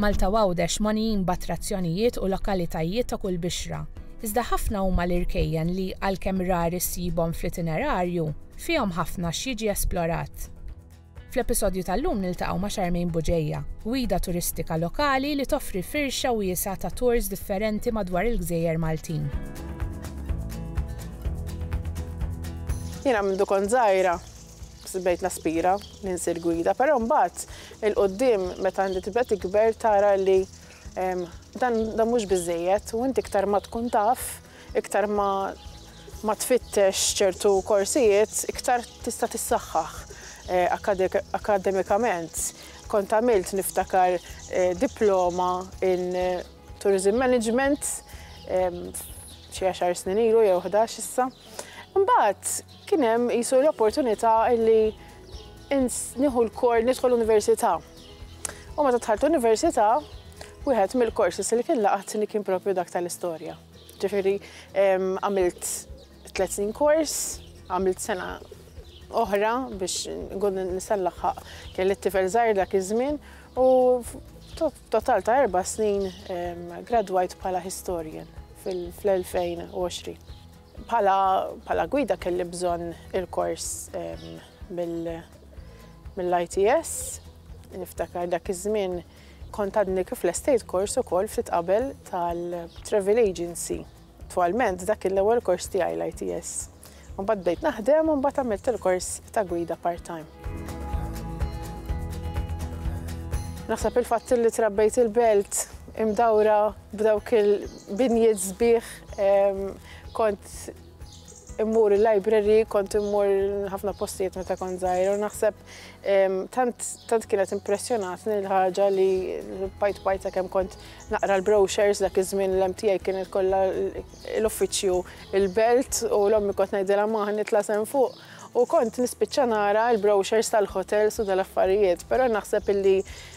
Malta u Għawdex mogħnijin b'attrazzjonijiet u lokalitajiet ta' kull bixra. Iżda ħafna huma l-irkejjen li, għalkemm rari ssibhom fl-itinerarju, fihom ħafna x'jiġi esplorat. Fl-episodju tal-lum niltaqgħu ma' Charmaine Bugeja, gwida turistika lokali li toffri firxa wiesgħa ta' tours differenti madwar il-gżejjer Maltin. Jiena mindu kont żgħira, Sbejt naspira li nsir gwida, però mbagħad il-quddiem meta inti tibda tikber tara li dan dan mhux biżejjed u inti iktar ma tkun taf, iktar ma ma tfittex ċertu korsijiet, iktar tista' tissaħħaħ akademikament. Kont għamilt niftakar diploma in tourism management xi għaxar snin ilu jew ħdax issa. Mbagħad Kien hemm qisu l-opportunità li nieħu l-kor nidħol università. U meta dħalt università, wieħed mill-korsis li kien laqatni kien propju dak tal-istorja. Ġifieri għamilt tliet snin kors, għamilt sena oħra biex nkun nisallaħħaq kelli t-tifel żgħir dak iż-żmien u total ta' erba' snin gradwajt bħala historian fl-2020. Bħala gwida kelli bżonn il-kors mill-ITS. Niftakar dak iż-żmien kont għadni kif lestejt kors ukoll ftit qabel tal-travel agency. Attwalment dak kien l-ewwel kors tiegħi l-ITS. Imbagħad bdejt naħdem u mbagħad għamilt il-kors ta' gwida part-time. Naħseb il-fatt li trabbejt il-belt imdawra B'dawk il-binjiet sbieħ kont immur il-library, kont immur ħafna postijiet meta kont żgħir u naħseb tant kienet impressjonatni l-ħaġa li bajt bajta kemm kont naqra l-brochures dak iż-żmien l tiegħi kienet kollha l-uffiċċju il-belt u l-ommi kont ngħidilha ma nitla' sem fuq U kont nispiċċa nara l-brochures tal-hotels u tal-affarijiet, però naħseb illi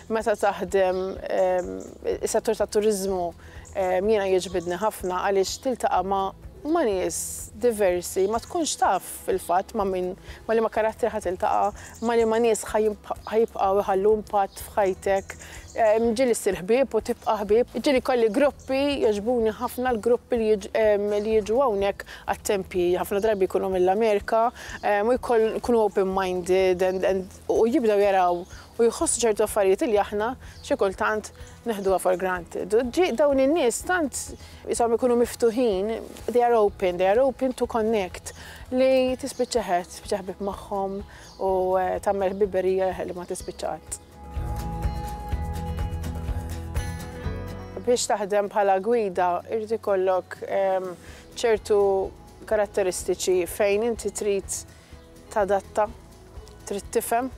meta taħdem ehm, is-settur tat-turiżmu ehm, jiena jiġbidni ħafna għaliex tiltaqa' ma' ma' nies diversi, ma tkunx taf fil-fatt ma' min ma' li ma' karattri ħadd iltaqa', ma' li ma' nies ħajibqgħu jħallu impatt f'ħajtek Ġieli ssir ħbieb u tibqa' ħbieb. Ġieli jkolli gruppi, jogħġbuni ħafna l-gruppi li li jiġu hawnhekk għat-tempji. Ħafna drabi jkunu mill-Amerika u jkoll jkunu open minded and and u jibdew jaraw u jħossu ċertu affarijiet li aħna xi kultant neħduha for granted. U ġie dawn in-nies tant ishom ikunu miftuħin, they are open, they are open to connect li tispiċċa ħbieb magħhom u tagħmel ħbiberija li ma tispiċċa qatt. Biex taħdem bħala gwida jrid ikollok ċertu karatteristiċi fejn inti trid tadatta, trid tifhem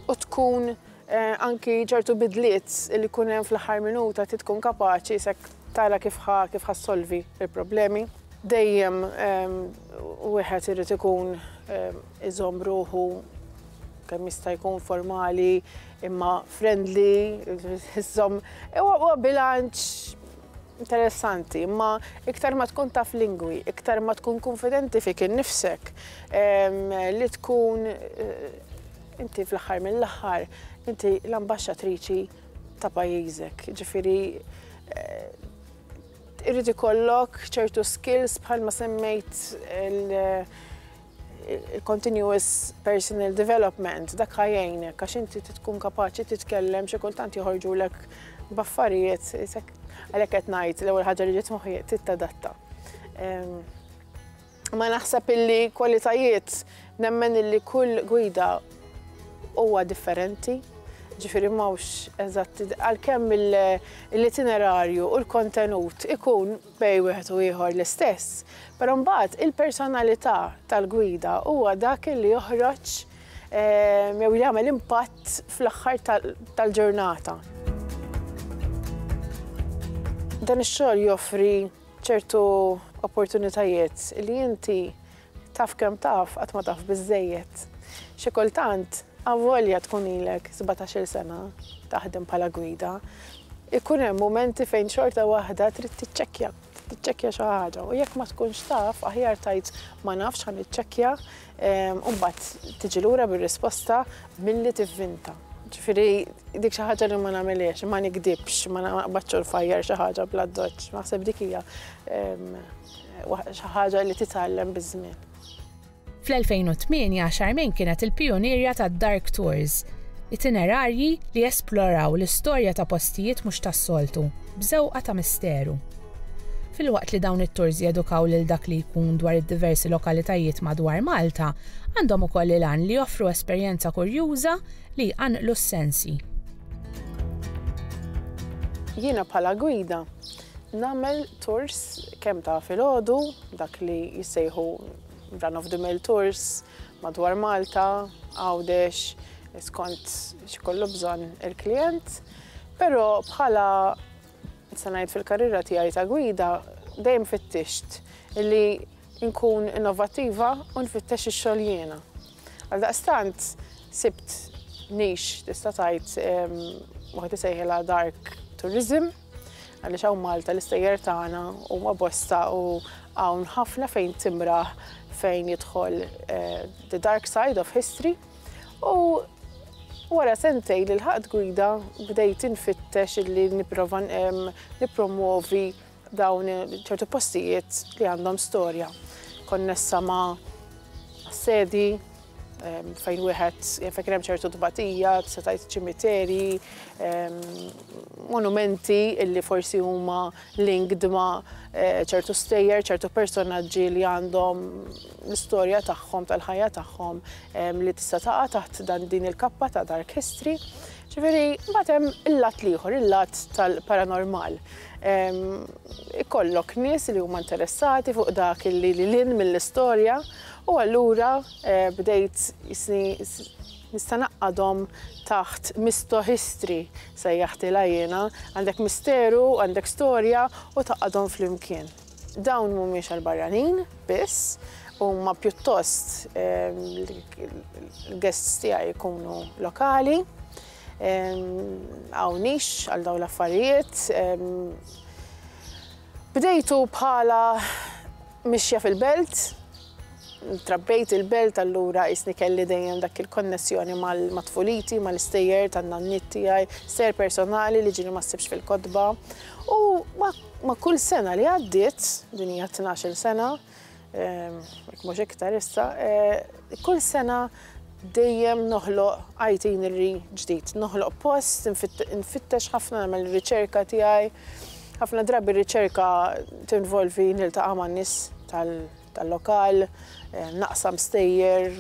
u tkun eh, anki ċertu bidliet li jkun hemm fl-aħħar minuta trid tkun kapaċi sek tara kif ħa kif ħassolvi il-problemi. Dejjem wieħed irid ikun iżomm ruħu kemm jista' jkun formali imma friendly, iżomm huwa bilanċ interessanti, imma iktar ma tkun taf lingwi, iktar ma tkun konfidenti fik innifsek, li tkun inti fl-aħħar mill-aħħar inti l-ambaxxatriċi ta' pajjiżek. Ġifieri irrid ikollok ċertu skills bħalma semmejt il-continuous personal development, dak ħajjajnek, għax inti tkun kapaċi titkellem xi kultant joħorġulek b'affarijiet, għalhekk qed ngħid l-ewwel ħaġa li ġiet moħħi tittadatta. Ma naħseb illi kwalitajiet nemmen illi kull gwida huwa differenti, ġifiri mawx eżatt, għal-kemm l-itinerarju u l-kontenut ikun bejn wieħed u ieħor l-istess, però mbagħad il-personalità tal-gwida huwa dak li joħroġ jew li jagħmel impatt fl-aħħar tal-ġurnata. Dan ix-xogħol joffri ċertu opportunitajiet li inti Taf kemm taf, qatt ma taf biżżejjed. Xi kultant, avolja tkun ilek sbatax-il sena taħdem bħala gwida, ikun hemm mumenti fejn xorta waħda trid tiċċekkja, tiċċekkja xi ħaġa u jekk ma tkunx taf, aħjar tgħid ma nafx ħa niċċekkja u mbagħad tiġi lura bir-risposta milli tivvinta. Ġifieri dik xi ħaġa li ma nagħmilhiex, ma nikdibx, ma naqbadx u nfajjar xi ħaġa bl-addoċċ, naħseb dik hija Xi ħaġa li titgħallem biż-żmien. Fl-2008 Charmaine kienet il-pijunierja tad-Dark Tours, itinerarji li jesploraw l-istorja ta' postijiet mhux tas-soltu, b'żewqa ta' misteru. Filwaqt li dawn it-tours jedukaw lil dak li jkun dwar id-diversi lokalitajiet madwar Malta, għandhom ukoll il-għan li joffru esperjenza kurjuża li jqanqlu s-sensi. Jiena bħala gwida, Nagħmel tours kemm ta' filgħodu, dak li jissejħu run of the mill tours madwar Malta, Għawdex, skont x'ikollu bżonn il-klijent. Però bħala se ngħid fil-karriera tiegħi ta' gwida dejjem fittixt li nkun innovattiva u nfittex ix-xogħol jiena. Għaldaqstant sibt niche tista' tgħid waħed isejħilha dark tourism. Għaliex hawn Malta l-istejjer tagħna huma bosta u hawn ħafna fejn timraħ fejn jidħol eh, the dark side of history u Wara sentej li l-ħaqt gwida bdejt infittex illi niprofa nipromuovi dawn ċertu postijiet li għandhom storja. Konnessa ma' sedi, fejn wieħed jaf kien hemm ċertu tbatija, setajt ċimiteri, monumenti illi forsi huma linked ma' eh, ċertu stejjer, ċertu personaġġi li għandhom l-istorja tagħhom tal-ħajja tagħhom li tista' taqa' taħt dan din il-kappa ta' dark history. Ġifieri, mbagħad hemm il-lat l-ieħor, il-lat tal-paranormal. Ikollok nies li huma interessati fuq dak li lin mill-istorja U allura bdejt jisni nista' naqqadhom taħt misto history sejjaħtilha jiena, għandek misteru, għandek storja u taqgħadhom flimkien. Dawn mhumiex għall-barranin biss, huma pjuttost l-guests tiegħi jkunu lokali, hawn nix għal dawn l-affarijiet. Bdejtu bħala mixja fil-belt, trabbejt il-belt allura qisni kelli dejjem dak il-konnessjoni ma' tfuliti, mal-istejjer tan-nanniet tiegħi, stejjer personali li ġieli ma ssibx fil-kotba. U ma' kull sena li għaddiet, din hija tnax-il sena, mhux iktar issa, kull sena dejjem noħloq itinerary ġdid, noħloq post, nfittex ħafna nagħmel riċerka tiegħi. Ħafna drabi riċerka tinvolvi niltaqa' ma' nies tal-lokal, naqsam stejjer,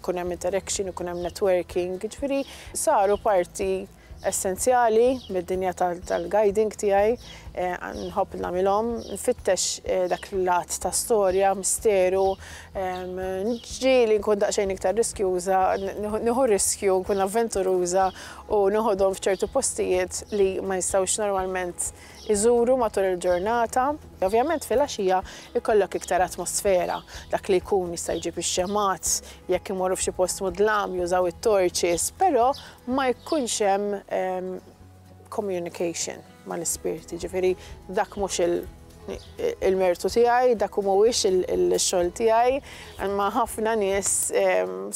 kun hemm interaction, kun hemm networking, ġifieri saru parti essenzjali mid-dinja tal-guiding tiegħi, nħobb nagħmilhom, nfittex dak l-att ta' storja, misteru, ġieli nkun daqsxejn iktar riskjuża, nieħu riskju, nkun avventuruża u noħodhom f'ċertu postijiet li ma jistgħux normalment iżuru matul il-ġurnata. Ovvjament filgħaxija jkollok iktar atmosfera, dak li jkun jista' jġib ix-xemgħat, jekk imorru f'xi post mudlam jużaw it-torches, però ma jkunx hemm communication mal-ispirti, jiġifieri dak mhux il-mertu tiegħi, dak mhuwiex il-xogħol tiegħi, imma ħafna nies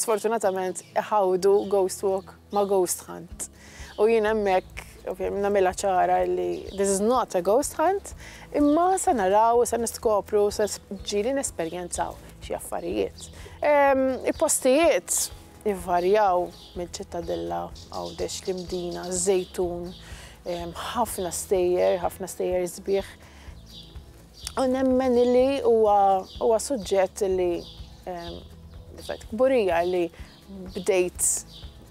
sfortunatament iħawdu ghost walk ma' ghost hunt. U jien hemmhekk nagħmilha ċara li this is not a ghost hunt, imma se naraw, se niskopru, se ġieli nesperjenzaw xi affarijiet. Il-postijiet Ivarjaw mill-Ċittadella Għawdex, l-Imdina, ż-Żejtun, ħafna stejjer, ħafna stejjer sbieħ. U nemmen li huwa suġġett li fett kburija li bdejt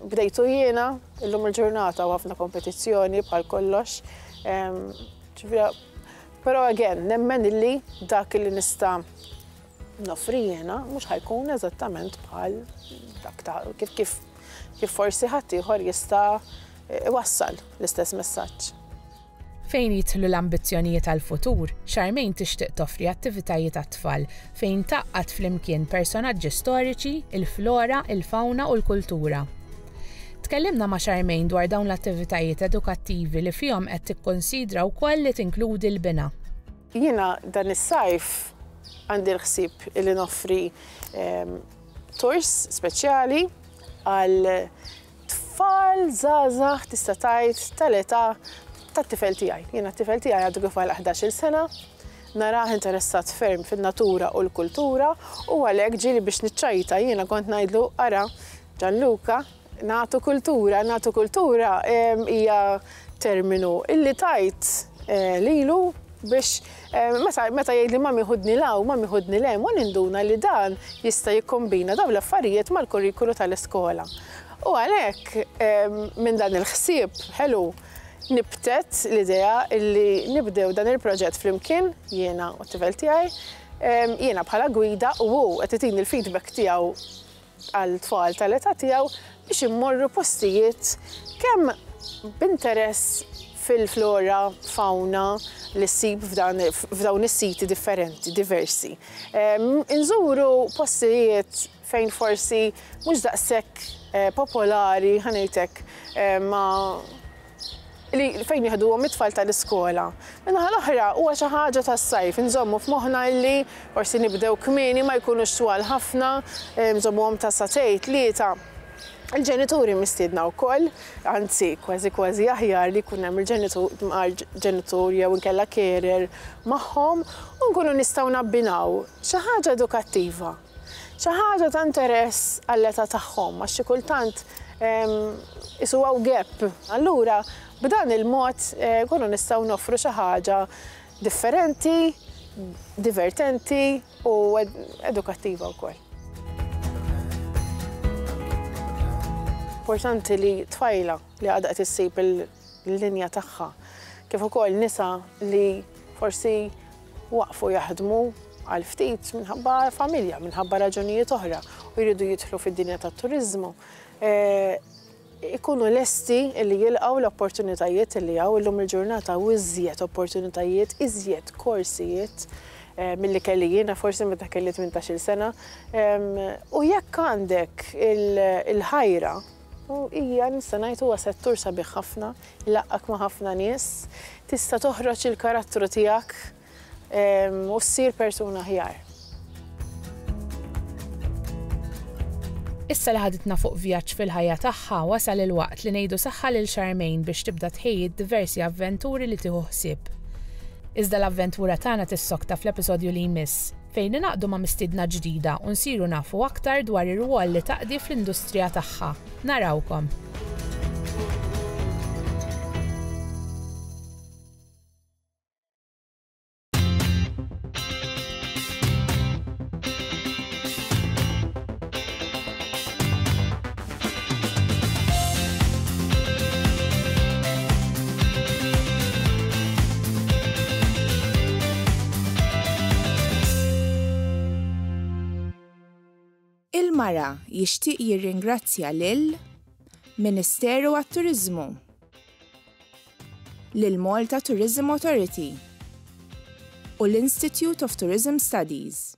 bdejtu jiena illum il-ġurnata u ħafna kompetizzjoni bħal kollox. Però again, nemmen li dak li nista' noffri jiena mhux ħa jkun eżattament bħal dak ta' kif kif kif forsi ħaddieħor jista' iwassal l-istess messaġġ. Fejn jidħlu l-ambizzjonijiet għall-futur, Charmaine tixtieq toffri attivitajiet għat-tfal fejn tgħaqqad flimkien personaġġi storiċi, il-flora, il-fawna u l-kultura. Tkellimna ma' Charmaine dwar dawn l-attivitajiet edukattivi li fihom qed tikkunsidra wkoll li tinkludi l-bina. Jiena dan is-sajf għandi l-ħsieb li noffri tours speċjali għal tfal żgħażagħ tista' tgħid tal-età tat-tifel tiegħi. Jiena t-tifel tiegħi għadu kif għal 11-il sena, narah interessat ferm fin-natura u l-kultura u għalhekk ġieli biex niċċajta jiena kont ngħidlu ara Ġanluka Nagħtu kultura, nagħtu kultura hija terminu illi tajt lilu biex meta jgħidli mami ħudni law, mami ħudni lem, u ninduna li dan jista' jikkombina dawn l-affarijiet mal-kurrikulu tal-iskola. U għalhekk minn dan il-ħsieb ħelu nibtet l-idea illi nibdew dan il-proġett flimkien, jiena u t-tifel tiegħi, jiena bħala gwida u hu qed itini l-feedback tiegħu għal tfal tal-età tiegħu biex immorru postijiet kemm b'interess fil-flora, fawna li ssib f'dan f'dawn is-siti differenti, diversi. Inżuru postijiet fejn forsi mhux daqshekk popolari, ħa ngħid hekk, ma' li fejn jieħduhom it-tfal tal-iskola. Min-naħa l-oħra huwa xi ħaġa tas-sajf, inżommu f'moħħna li forsi nibdew kmieni, ma jkunux twal ħafna, nżommuhom ta' sagħtej, tlieta. Il-ġenituri mistiedna wkoll, anzi kważi kważi aħjar li jkun hemm il-ġenitur ġenitur jew inkella carer magħhom u nkunu nistgħu nabbinaw xi ħaġa edukattiva. Xi ħaġa ta' interess għall-età tagħhom għax xi kultant isu hawn gap. Allura b'dan il-mod nkunu nistgħu noffru xi ħaġa differenti, divertenti u edukattiva wkoll. Importanti li tfajla li għadha qed issib il- l-linja tagħha, kif ukoll nisa li forsi waqfu jaħdmu għal ftit minħabba familja, minħabba raġunijiet oħra u jridu jidħlu fid-dinja tat-turiżmu, eh, ikunu lesti li jilqgħu l-opportunitajiet li hawn illum il-ġurnata u iżjed opportunitajiet, iżjed korsijiet eh, mill-li kelli jiena forsi meta kelli 18-il sena. U jekk għandek il-ħajra U hija, nista' ngħid, huwa settur sabiħ ħafna, jlaqqgħek ma' ħafna nies, tista' toħroġ il-karattru tiegħek u ssir persuna aħjar. Issa li ħaditna fuq vjaġġ fil-ħajja tagħha, wasal il-waqt li ngħidu saħħa lil Charmaine biex tibda tħejji d-diversi avventuri li tieħu ħsieb. Iżda l-avventura tagħna tissokta fl-episodju li jmiss. fejn ningħaqdu ma' mistiedna ġdida u nsiru nafu aktar dwar ir-rwol li taqdi fl-industrija tagħha. Narawkom! Il-Mara jixtieq jirringrazzja lil Ministeru għat-Turiżmu, lil Malta Tourism Authority u l-Institute of Tourism Studies.